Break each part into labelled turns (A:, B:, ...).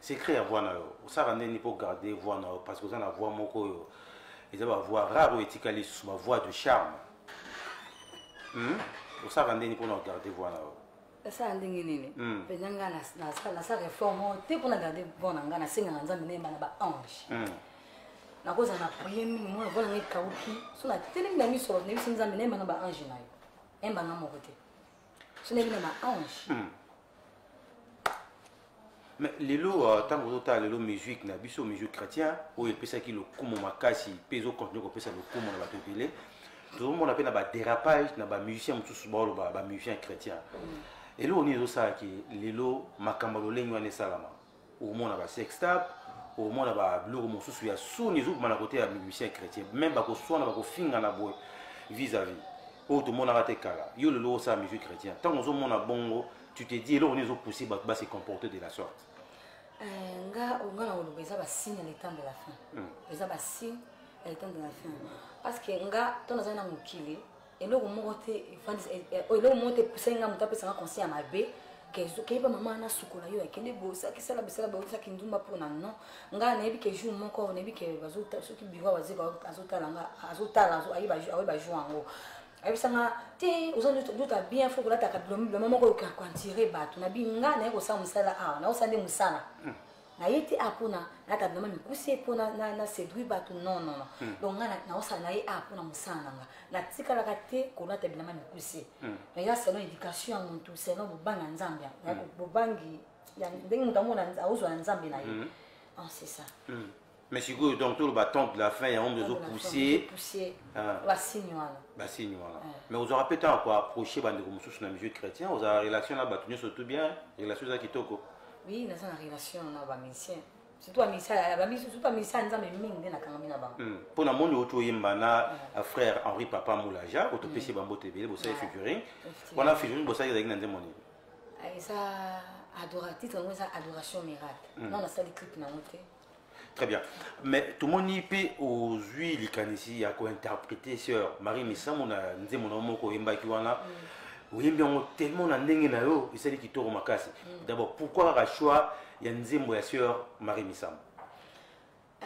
A: secret ya voix na yo osalaka nde nini mpo garde voix na yo parce que oza na voix moko oyo eza bavoix rare oyo etikali lisusu bavoix de charme hmm? osalaka nde nini mpo na ogarde voix na yo nasala ndenge
B: nini mpenza hmm. ngai nasala reforme te mpo na garde voix na ngai nasengaka nzambe nayemba na baange hmm. nakozala na priye mingi mwana voix na ngai ekauki so natelemi na miso nayebisi nzambe nayemba na baange na yo emba nga moko te sona bino ba ange hmm.
A: mais lelo ntango euh, ozotala lelo musique na biso musique chrétien oyo epesaki lokumu makasi mpe ezokontinue kopesa lokumu na bato ebele tozomona mpe na badérapage na bamusicien mosusu baoloba bamusicien chrétien hmm. eloko nini ezosalaki lelo makambo ya lolenge wana esalama okomona ba sextap okomona ba biloko mosusu ya soni ezokoma na kote ya musicien chrétien meme bakoswana bakofingana boye vis à vis oyo tomonaka te kala yo lelo osala musique chrétien ntango ozomona bongo tu te dis eloko nini ezopousse bato base comporter de la sorte euh, nga
B: onga na koloba eza basigne ya letemp de la fin hmm. eza basigne ya letemp de la fin parce que nga ntango nazali na mokili eloko moko te eh, eh, oh, eloko moko te epusaki ngai moto apesaka conseil ya mabe keyeba mama wana asukola yo akende bosakisala bisala baosaki ndumba mpona non ngai nayebi ke jour moko nayebi ke soki biro azotala nga azotala ayeba jour yango ayebisa nga te oza dota bien fo kolataka biloma moko okoka koantire bato na bi ngai naye kosala mosala awa naosala nde mosala hmm. na ye te apo na nata bilama mikuse mpo na séduire bato non non non hmm. donc nga naosala na ye a mpo na mosala na nga natikalaka te kolata bilama mikuse hmm. mais ya selon éducation ya motu selon bobanga nzambe hmm. bobangi ndenge moto amona aozwa na nzambe na ye ah, c'est ça mais sikoyo
A: donc toloba temps de la fin yango mpe ozopousse
B: basigne wana basigne wana
A: mais ozwaka mpe ntango koapproche bandeko mosusu na milieu chrétien ozala relation na bato nyonso tout bien relation eza kitoko oui naza na
B: relation na bamusicien surtout bamisa ya nzambe mingi nde nakangami na bango hmm. mpo na moni outi
A: oyemba na euh, frère henri papa moulaja oyo topesi hmm. bamboto ebele bosali figuring wana figuring bosali ezalaki na nzembo nini ah, eza
B: adora titre yango eza adoration miracle hmm. nano nasali clip nango te Très bien.
A: Mais tout mon IP aux huiles ici à quoi interpréter sœur Marie Missamo na nze mon homme ko yemba ki wana. Mm. Oyembi yango tellement na ndenge na yo esali kitoko makasi. Mm. D'abord pourquoi la choix ya nzembo ya sœur Marie Missamo? Euh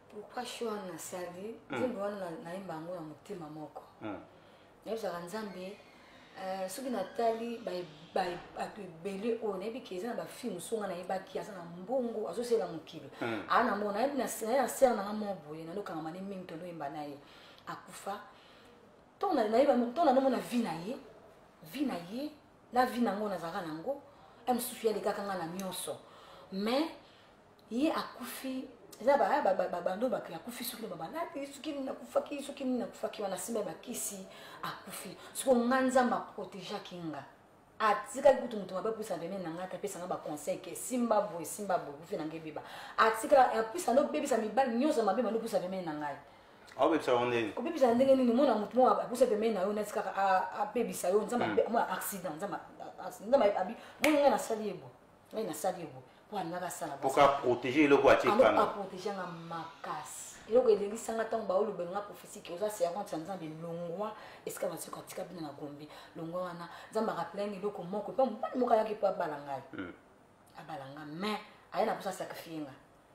B: pourquoi choix na sali mm. nzembo wana na yemba yango na motema moko. nayebisaka nzambe euh, soki natali bato ebele oyo oh, nayebi ke eza na bafilme mosusu nga nayebaki aza na mbongo azosela mokili hmm. aa ah, na mona nayebi na sere nanga moko boye nanokangama ne mingi tonoyemba na ye akufa ntongo nanomona vi na ye vi na ye na vi nango nazalaka nango ya mosusu ya lekaka nga na nyonso mais ye akufi eza babando bato akufi soki na babalati soki nini akufaki soki nini akufaki wana nsima ya bakisi akufi soko nga nzambe aprotegeaki nga atikali kutu moto mabe apusa peme na ngai te apesa nga baconseil ke simba boye simba boye kufi na ngai ebeba atikala apusa nde obebisa mibali nyonso mabe mando opusa peme na ngai obebisa yango
A: ndenge obebisa ya ndenge nini omona
B: moto moko apusa peme na yo neti kaka abebisa yo nzambe hmm. accident nzambe abi moni ngai nasali ye boye ngai nasali yango mpo alingaka asala mpo
A: ka protéger eloko atie kanga aprotege nga
B: makasi eloko elelisanga ntango baoloba nga prophétique oza servante ya nzambe longwa esika basiko atika bino na gombe longwa wana nzambe akapelani eloko moko mpe mobali moko ayaki mpo abala ngai hmm. abala nga mais aye na mposa sacrifie nga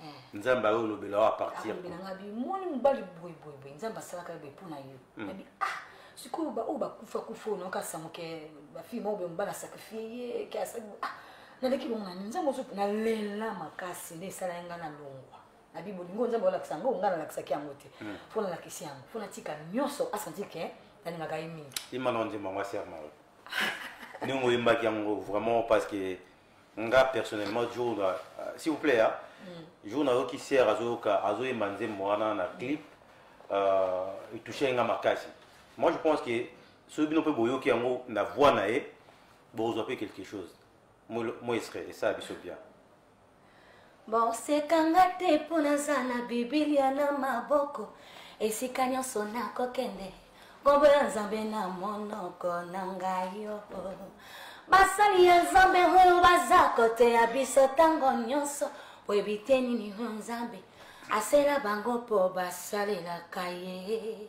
B: Eh. nzambe
A: ayo olobela oyo apartirnabelanga ah, nga bimoni
B: mobali boyeboyeboye nzambe asalaka yobe mpo na yo hmm. nabi ah sikoyo baoyo bakufa kufa oyo nokasa moke bafilme oyo be mobali asakrifie ye ke asali ah naleki bongo nani nzambe ozo nalela makasi nde esala ye nga na longwa na bi bolingo nzambe olakisa yango nga nalakisaki yango te hmm. fo nalakisi yango fo natika nyonso asanti ke nalingaka ye mingi imana ondima yango
A: aserma oyo ndenge oyembaki yango vraiment parce que nga personnellement jour na euh, s'il vous plaît hein, mm. jour nayoki sere azoyoka azoyemba nzembo wana na clip euh, etouche nga makasi moi je pense que soki bino mpe boyoki yango na voix na ye bokozwa mpe quelque chose moi esre esala biso bien
B: bosekanga te mpo naza na bibilia na maboko esika nyonso nakokende nkombo ya nzambe na monoko na ngai yo basali ya nzambe oyo baza koteya biso ntango nyonso oyebi te nini oyo nzambe asela bango mpo basalelaka ye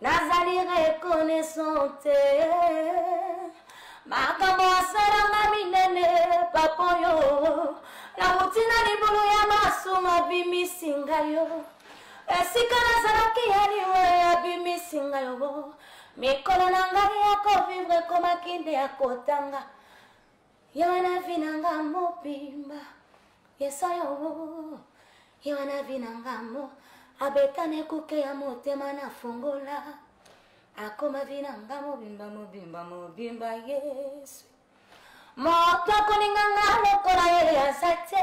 B: nazali reconnaissant te makambo asalanga minene papa oyo nauti na libulu ya masumu abimisi ngai yo esika nazalaki ya liwe abimisi ngai yo mikolo na ngai ya kovivre ekomaki nde ya kotanga Yo na vie na nga mobimba yesayo yo na vie na nga mo abetana ekuke ya motema na fongola akoma vie na nga mobimba mobimba mobimba yesu moto akoninga nga lokola ye aza te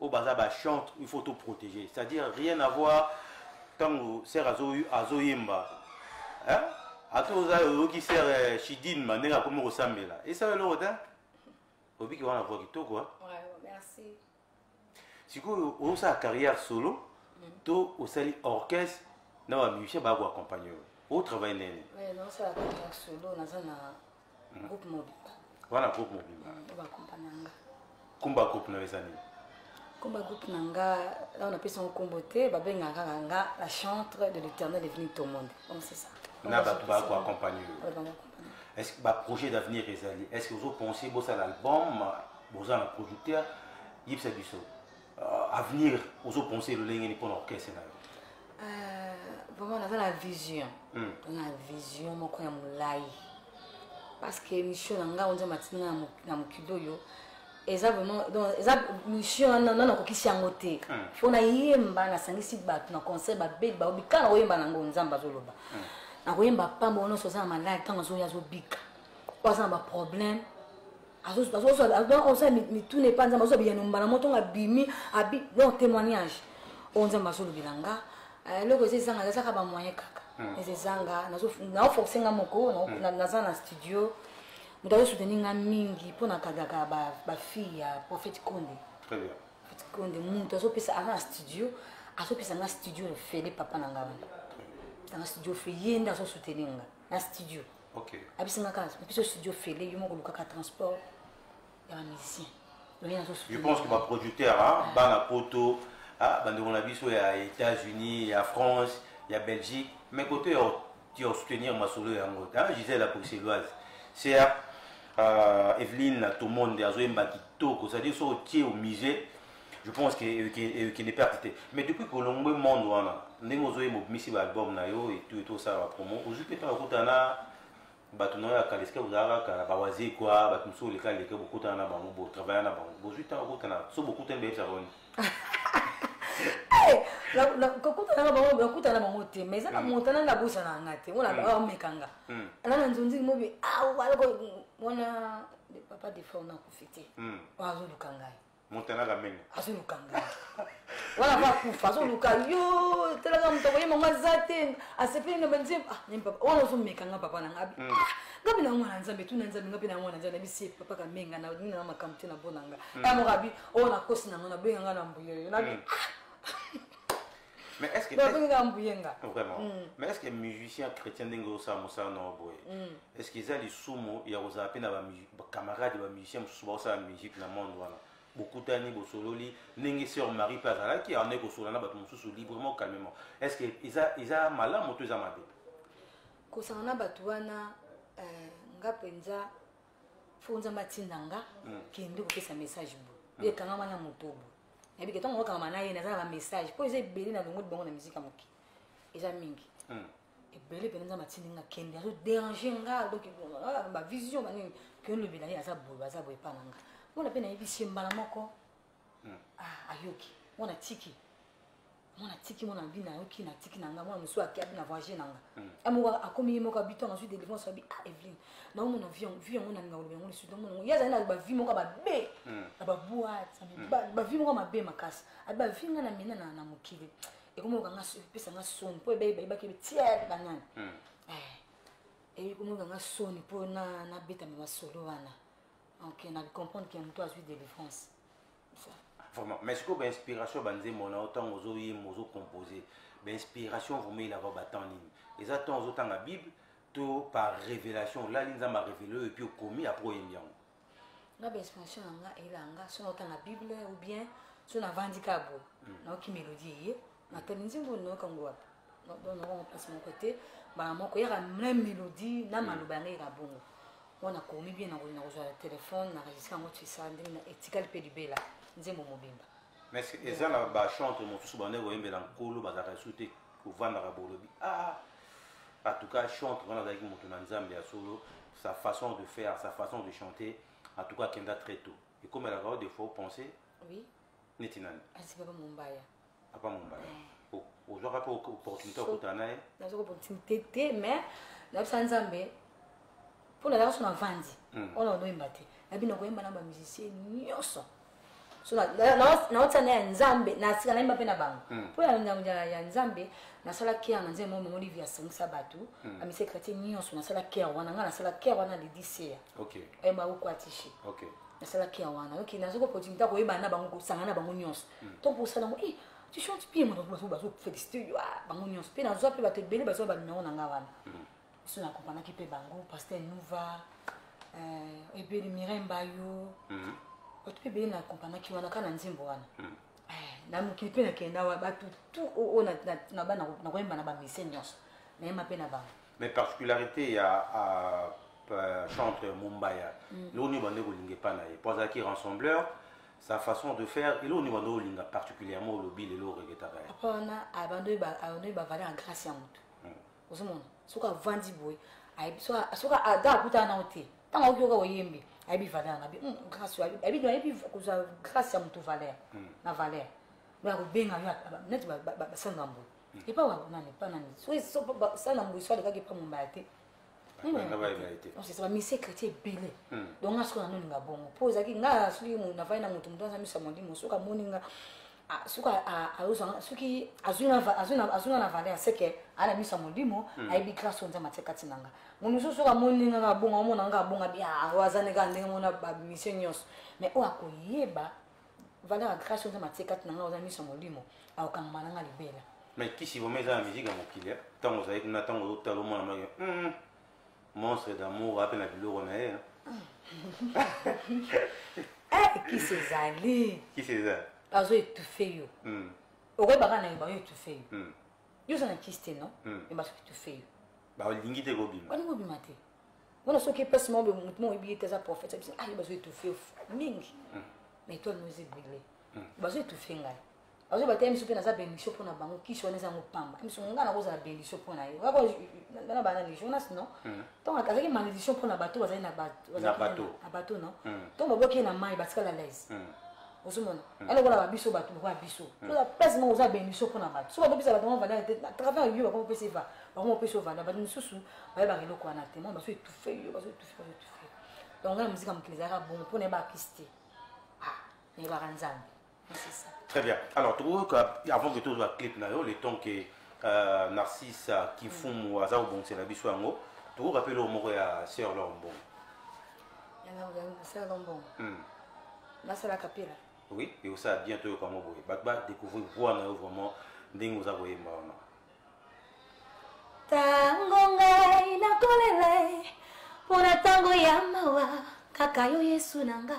A: oyo baza ba chante il faut to protéger c'est à dire rien à voir ntango sere azoyemba ata oza oyoki sere shidine ma ndenge akomi kosambela esala eloko te obiki wana voa kitoko sikoyo osala carrière solo mm. to osali orchestre na bamusicien baya koaccompagne yo otravaille ndenge
B: nini hmm. groupe mobimba wana groupe mobimba
A: hmm, bakompa na
B: nga kumba
A: groupe na yo eza nini kumba groupe
B: na nga nao napesi yango nkombo te babengaka kaka nga la chantre de l'éternel est venu tomonde donc c'est ça na bato bako
A: accompagne yo est ce que baprojet d'avenir ezali est ce que ozopense bosala album boza na producteur yebisa biso euh, avenir ozo penser lolenge ni pona orchestre na yo euh, vraiment
B: naza na vision hmm. na vision moko ya molai parce que mission na nga onza matina na, na mokili oyo eza vraiment donc eza mission wana nana nakokisi yango te hmm. fo nayemba nasangisi bato na concert babeli bao bikala na koyemba nango nzambe azoloba hmm. nakoyemba pamba nyonso oza na maladi ntango azoya azobika oyo aza na baproblème azozwa mituna epa nzambe azwa biyano mbala mo ntongo abimi abi donc témoignage oyo nzambe azolobela nga eh, eloko eza ezanga ezaka bamoyen kaka hmm. eza ezanga naoforce nga moko hmm. naza na studio moto azosuteni nga mingi mpo na kagaka bafille ya prophète konde prophète
A: konde moto
B: azopesa aza na studio azopesa nga studio ofele papa na nga wana pesa nga studio ofele ye nde azosuteni nga na studio okay. abisinga
A: kaka biso
B: studio fele yo moko olukaka transport ya bamusicien je
A: pense que baproducteur bana poto bandeko na biso ya états-unis ya france ya belgique mais kote ya soutenir masolo yango gisele bruxelloise ser euh, evelyne tomonde azoyemba kitoko c'est-à-dire so otie au musée je pense que ekende euh, perte te mais depuis kolongwe monde wana ndenge ozoye mobimisi baalbum na yo etu etu osala bapromo ozwi mpe ntango okutana na bato na yo ya kala esika bozalaka kaka na bawaze kua bato mosusu oleka leka bokutana na bango botravailla na bango bozwi ntango okutana so bokutani bayebisa boni
B: kokutana na bango nakutana na bango te mais eza na mm. montana na bosa na nga te wana mm. ameka nga mm. ana na nzonzi mobi awa ah, wana papa defort nakufi te azoluka ngai montana kamene
A: azoluka ngai
B: wana va kufa azoluka yo talaka moto akoyema ngo aza te asepeli na banzembo ah, wana ozomeka nga papa na nga hmm. ah, nga mpe na yango na nzambe tuna nzambe nga mpe na yango na nzambe nabisi papa kamenga na nini na makambo te na bona nga ya hmm. mokabi oyo oh, nakosi na ngo nabenga nga na mbuyoyo nabi hmm. ah!
A: mais est-ce que babenga mbuyenga vraiment mm. mais est-ce que musicien chrétien ndenge osala mosala na boye mm. est-ce que eza lisumu ya kozala mpe na bacamarade ya bamusicien mosusu baosala musique na monde wana bokutani bosololi ndenge sœur marie mpe azalaki yango nde kosolola na bato mosusu librement calmement est-ce que eza eza malamu to eza mabe kosanga
B: na bato wana euh, nga mpenza fo nzambe atinda nga mm. kende kopesa message bo ekangama na moto bo nayebi ke ntango okangama na ye naza na bamessage mpo eza ebele na longo libongo na miziki ya moke eza mingi hmm. ebele mpena nzambe atindi nga kende azo dérange nga donc ah, bavision banini ke olobela ye aza boye aza boye epa na nga mona mpe nayebisi ye mbala moko hmm. ah, ayoki mona tiki mwana tiki mwana abi na yo ki na tiki na nga mwana mosusu aki abi na voyage na nga hmm. amoko ah, akomi ye moko abi ntango azwi délivrance abi ah eveline naomona vie yango nalinga koloba yango lisusu naomona yango ye azali na bavie moko babe hmm. na baboite hmm. bavie moko mabe makasi abi bavie nga na mina na mokili ekomi oka nga epesa nga soni mpo ebaki tiere banani eh, ekomi oka nga soni mpo nabetama masolo wana ok na comprendre ke moto azwi délivrance
A: vraiment mais sikoyo bainspiration banzembo na yo ntango ozoyemba ozocompose bainspiration vraimen elaka batemp nini eza ntango ozotanga bible to par révélation olali nzambe arévele oyo epuis okomi apres oyembi yango nga
B: bainspiration na nga eyelanga so naotanga bible ou bien so navandi kaka boye hmm. naoki mélodie eye makambo nzembo onoyoka ngo wapi donoko place moko te mbala moko yaka mle mélodie na maloba yango yaka bongo wana nakomi bien nakozwa telefone naregistre yango tisa ndenge na etikali mpe libela nzembo mobimba mais eza
A: na bachantre mosusu banda koyembela nkolo bazalaka esu te kovandaka bolobi ah en tout cas chantre wana azalaki moto na nzambe ya solo sa façon de faire sa façon de chanter en tout cas akenda très tôt ekomelaka yo des fois opense oui
B: neti nani
A: asi papa mombaya
B: papa mombaya
A: eh. ozwaka mpe opportunité ya kokutana na ye nazwaka opportunité te
B: mais nayebisa nzambe mpo nazalaka so navandi oyo na onoyemba te nabi nakoyemba na bamusicien nyonso so naotia na ya nzambe nasika nayemba mpe na bango hmm. mpo ya nzambe nasala kere na nzambe moko mongolivi asangisa bato hmm. amise kratien nyonso nasala kere wana ngai nasala kere wana lediseya okay. e eh, bakokwatishi okay. nasalaki ya wana oke nazoki opportunité ya koyebana na bango kosangana na bango nyonso mm. to kosala yango eh, tu chantes bien moto bazofélicité yo ah, bango nyonso mpe nazwa mpe bato ebele bazwa banumero na nga wana mm. biso na accompagnaki mpe bango pasteur nouva eh, ebeli mirai mbayo mm. bato mpe ebele na accompagnaki wana kaka na nzembo wana eh, na mokili mpe nakenda wa bato tu oyo na bana nakoyemba na bamese nyonso nayemba mpe na bango mais particularité
A: ya euh, chantre mombaya mm. eloko nini bande kolinga epai na ye mpo azalaki rassembleur sa façon de faire eloko nini bande olinga particulièrement olobi lelo oregetaka ye papa wana
B: abandoi bavale na grâce ya motu mm. ozomona soki avandi boye soki ada akutana nao te ntango aoki oka oyembi ayebi valeur na bi hmm, grâce oyo ayebi ayebi kozwa grâce ya motu valeur hmm. na valeur me akobenga yo neti basali na mbula epa wa kuna epa na miso so pa sa na mbuso alekaki epa mombaya te c'est ça mise chrétien ebele donc nga soki na noninga bongo mpo ezalaki nga soki navai na moto moto aza miso ya molimo soki amoni nga soki azozwa soki azwi nga na valeur seke aa na miso ya molimo ayebi grâce oyo nzambe atie kati na nga moto mosusu soki amoni nga abonga omona nga abonga bi oyo aza ndenge ndenge mona bamission nyonso mais oyo akoyeba valeur ya grace oza matie kati na ngai oza miso molimo akokangama na ngai libela mais kisi vraimen eza
A: na miziki ya mokili ntango ozali kuna ntango ozotala omona maki hmm, monstre d'amour ape na biloko na ye
B: eh, kisi ezali kisi eza
A: azo etufe
B: yo hmm. okoyebaka na yo bayo etufe yo hmm. yo oza na kisi te no me basoki etufe yo balingi te kobima
A: balingi kobima te
B: mona soki epesi moko boye motu moko oyebi ye te aza prophète abisi aye bazo étouffe mingi hmm. mais toi nous est brûlé hmm. bazo étouffe ngai bazo bataya miso mpe naza bénédiction mpo na bango kisi wana eza yango pamba miso ngai nakozala bénédiction mpo na ye na bana ni jonas non hmm. donc azalaki malédiction mpo na bato bazali na bato non donc babwaki ye na mai batikala laise ozomona hmm. alokola babiso bato lokola biso hmm. oza place moko oza beniso mpona bato so bakopesa bato yango valeur te na travers yo bakoma opesa eva bakoma opesa yo valeur bato mosusu bayebaka eloko wana te mwa bazo etufe yo bazo etufe bazo etufe donc ngai na mozika mokili ezalaka bongo mpo nayeba akisi te ah, nayebaka nzambe très bien alors tokoyoka
A: avant que tozwa clip na yo le temps que euh, narcisse kifumu hmm. aza kobongisela biso yango tokoyoka mpe eloko moko ya sœur lor mbongo
B: nasala kapela oui ekosala
A: bien toyoka yango boye bato badécouvrir voix na yo vraiment ndenge oza koyemba wana
B: ntango ngai nakolela mpo na ntango ya mawa kaka yo yesu na nga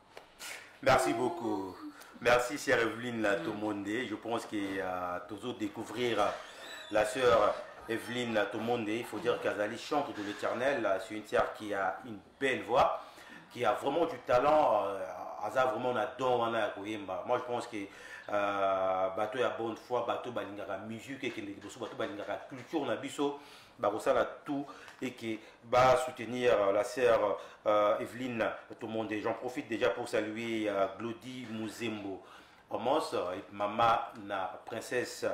A: Merci beaucoup. Merci, chère Evelyne la monde. Je pense que euh, toujours découvrir euh, la sœur Evelyne la monde. Il faut dire qu'Azali chante de l'éternel. Euh, c'est une sœur qui a une belle voix, qui a vraiment du talent. Euh, aza vraiment na don wana ya koyemba moi je pense que euh, bato ya bonne foi bato balingaka musique ekende liboso bato balingaka culture na biso bakosala tout et que va soutenir euh, la sœur euh, Evelyne tout le monde j'en profite déjà pour saluer euh, Glody Muzembo Omos euh, et maman na princesse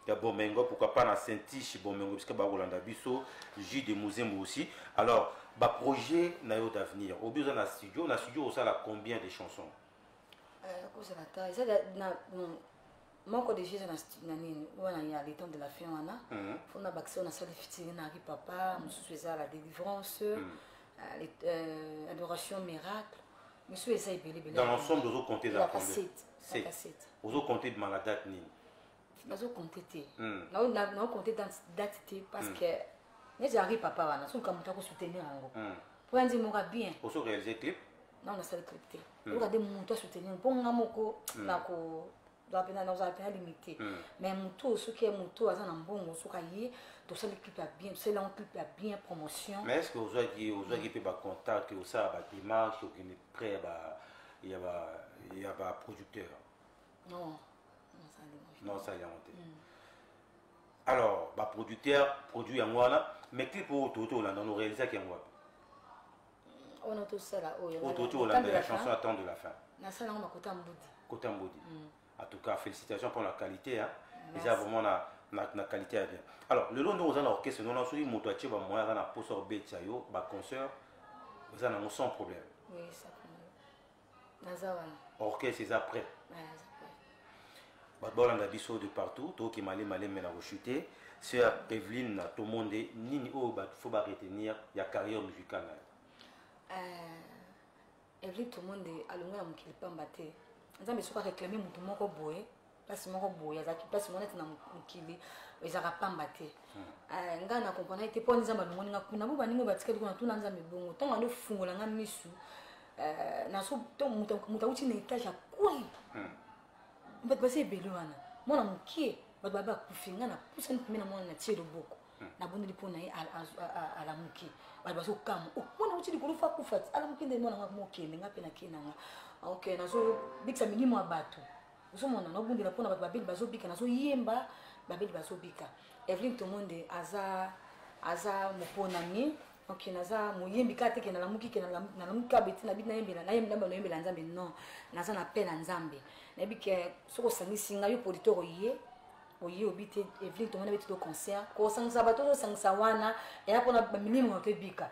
A: ya Bomengo pourquoi pas na Saint-Tiche Bomengo puisque ba Rolanda biso J de Muzembo aussi alors ba projet na yo d'avenir au besoin na studio na studio osala combien de chansons euh, kozala ta eza na
B: moko de jesus na nini wana ya le temps de la fin wana mhm. fo na bakisa na sali fitiri na ri papa mosusu eza la délivrance mhm. euh, euh, adoration miracle mosusu eza ebele ebele dans l'ensemble ozo compter
A: la cassette
B: ozo
A: compter de la date nini nazo compter
B: te mhm. nazo compter date te parce que neti ari papa wana soki moto akosoutenir yango mpo ya nzemora bien oso réalise clip
A: nao nasali clip
B: te hmm. oyoka nde moto asoutenir mpo nga moko hmm. nako ozala mpe na limite hmm. mais moto oyo soki ye moto aza na mbongo soki aye tosali clip ya bien tosali yango clip ya bien promotion mais est ce que ozwaki
A: ozwaki mpe bacontact osala bademarche okende près ya baproducteur
B: non
A: non osali yango te alors baproducteur produit yango wana mais clip oyo toyota olanda no réalisaki yango wapi
B: on a tout ça là oh, on tout la, la
A: chanson attend de la fin na ça là on a kota
B: mbudi kota mbudi mm.
A: en tout cas félicitations pour la qualité hein déjà vraiment la na, na qualité ya bien alors lelo nde oza na orchestre nona soki moto atie bamoyen aza na mposa obetisa yo baconcert oza nango sans problème oui,
B: naza wana orchestre
A: eza prêt bato balanda biso de partout tokima le malembe na kochute sœur eveline na tomonde nini oyo bato fo baretenir ya carrière musicale na yo eh,
B: eveline tomonde alongwa na mokili pamba te nzambe soki areklame moto moko boye place moko boye azalaki place moko neti na mokili ezalaka pamba te hmm. eh, ngai na comprendre te mpo ani nzambe alongoli nga kuna bo baningo batikali kuna tuna nzambe bongo ntango ando fungola nga misu eh, naso moto auti na etage ya koi hmm. bato basi ebele wana mwana mokie bato babe akufi nga napusani pembe na mwana na tie loboko hmm. nabondeli mpo na ye alamuki bato bazokamwa oh, mwana auti likolo fo akufa alamuki nde mwana nga mokende nga mpe nakenda nga ok nazobikisa milimo ya bato ozomona naobundela mpona bato babeli bazobika nazoyemba babeli bazobika evelyn tomonde aza aza moponami ok naza moyembi kaka te ke nalamuki ke nalamuki kaka beti nabi nayembela nayembela nzambe non naza na pe na nzambe nayebi ke soki osangisi ngai yo producteur oye oye obi te evelyn tomona beti to concert kosangisa bato ozosangisa wana eya mpona milimo na to ebika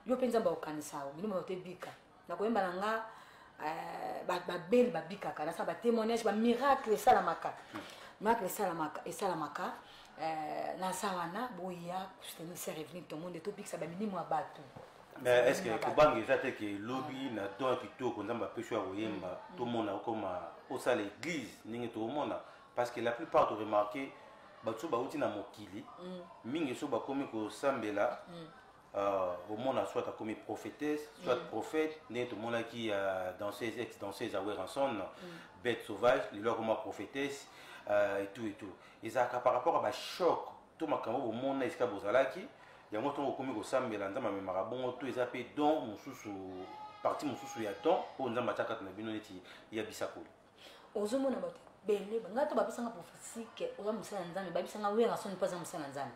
B: yo mpe nzambe akokanisa yo milimo na to ebika nakoyemba na nga euh, babeli babikaka nasala batémoignage bamiracle esalamaka miracle esalamaka esalamaka euh, naza wana boya soutenir sœur eveline tomonde tobikisa bamilimo ya bato mais est ce que
A: kobanga eza te ke lobi na don kitoko nzambe apesi ya koyemba mm. tomona okoma osala église ndenge tokomona parce que la plupart to remarquer bato so bauti na mokili mm. mingi so bakomi kosambela mm. uh, omona soit akomi prophétesse soit mm. prophète ndenge tomonaki ya uh, danseuse ex danseuse aweranson mm. bête sauvage lelo akoma prophétesse uh, et tout et tout ezalaka par rapport ya bachoc to makambo bomona esika bozalaki yango ntongo okomi kosambela nzambe amemaka bongo to eza mpe don mosusu parti mosusu ya don oyo nzambe atya kati na bino neti ya bisakoli ozomona
B: bato ebele ngai to bapesanga prophétique oza mosala ya nzambe babisanga werasoni mpo aza mosala ya nzambe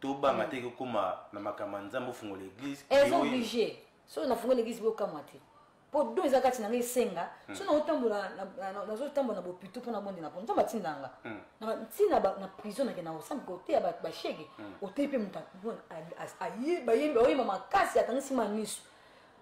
A: tobanga te ekokoma na makambo ya nzambe ofungola eglise eza oblige
B: soki nafungola eglise bokamwa te mpo do eza kati na ngai esenga hmm. so nazotambola nazotambola na bopito mpo nabondela mpo nzambe atinda nga hmm. ntina na prison nake na osambi koteya bashege hmm. oteyi mpe moto bayembi oyemba makasi atangisi maniso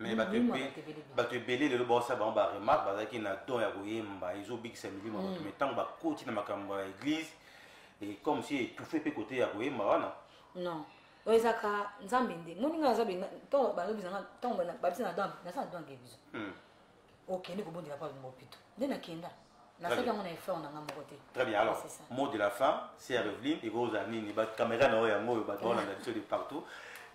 B: mais bato
A: Milimo ebe- bato ebele bien. bato ebele lelo baosa bango baremarke bazalaki na don ya koyemba ezobikisa milimo ya bato mai ntango bakoti na makambo ya eglise e comme si etufe mpe kote ya koyemba wana non
B: oyo ezaka nzambe nde moninga naza benga ntango balobisa nga ntango bana- babisa na dange naza na dange biso Hmm. okende kobondela papa bemba opito nde nakenda nasaki yango na effort na nga moko te très bien alors mot
A: de la fin c'est eveline ekozala nini bacaméra na oyo yango oyo bato baolanda biso de partout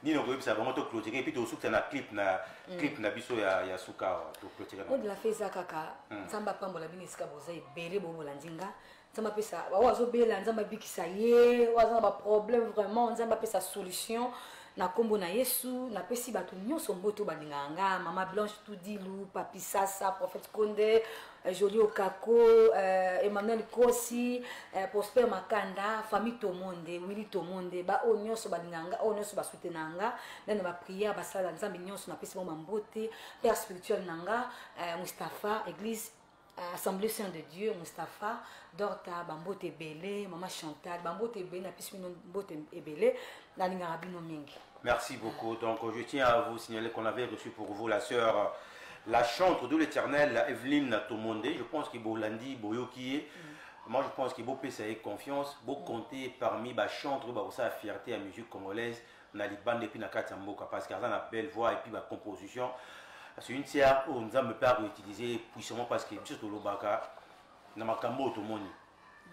A: nini okoyebisa bango to clotire epuis tosukisa na clip na mm. clip na biso ya, ya suka awa toclotire mot de la fin eza kaka
B: hmm. nzambe apambola bino esika boza ebele bobolandi nga nzambe apesa oyo azobela nzambe abikisa ye oyo aza na baproblème vraiment nzambe apesa solution na nkombo na yesu napesi bato nyonso mboto balingaka nga mama blanche tudilu papi sasa prophète konde euh, joli okako euh, emmanuel kosi euh, prosper makanda famille tomonde willi tomonde baoyo nyonso balingaka nga oyo nyonso basutena nga nde na baprière basala nzambe nyonso napesi bango mambote père spirituel na nga euh, mustapha église Euh, assemblée saint de dieu mustapha dorta bambote ebele mama chantal bambote ebele napesi bino mbote ebele nalingaka bino mingi merci beaucoup
A: donc je tiens à vous signaler qu'on avait reçu pour vous la sœur la chantre de l'éternel evelyne tomonde je pense que bolandi boyoki ye mm. moi je pense que bopesa ye confiance bocompte mm. parmi bachantre bakosala fierté ya musique congolaise na libanda epuis na kati ya mboka parce que aza na belle voix epuis ba composition c'est une tiare oyo nzambe mpe akoutilize puissamment parce que biso tolobaka na makambo oyo tomoni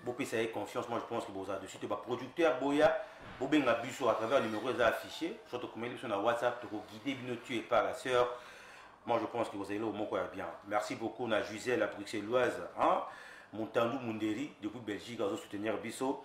A: bopesa ye confiance moi je pense que boza dessus te baproducteur boya bobenga biso à travers numéro eza affiché soit tokomeli biso na whatsapp tokoguide bino tu et par la sœur moi je pense que bozali eloko moko ya bien merci beaucoup na jusel la bruxelloise hein? montandu munderi depuis belgique azosoutenir biso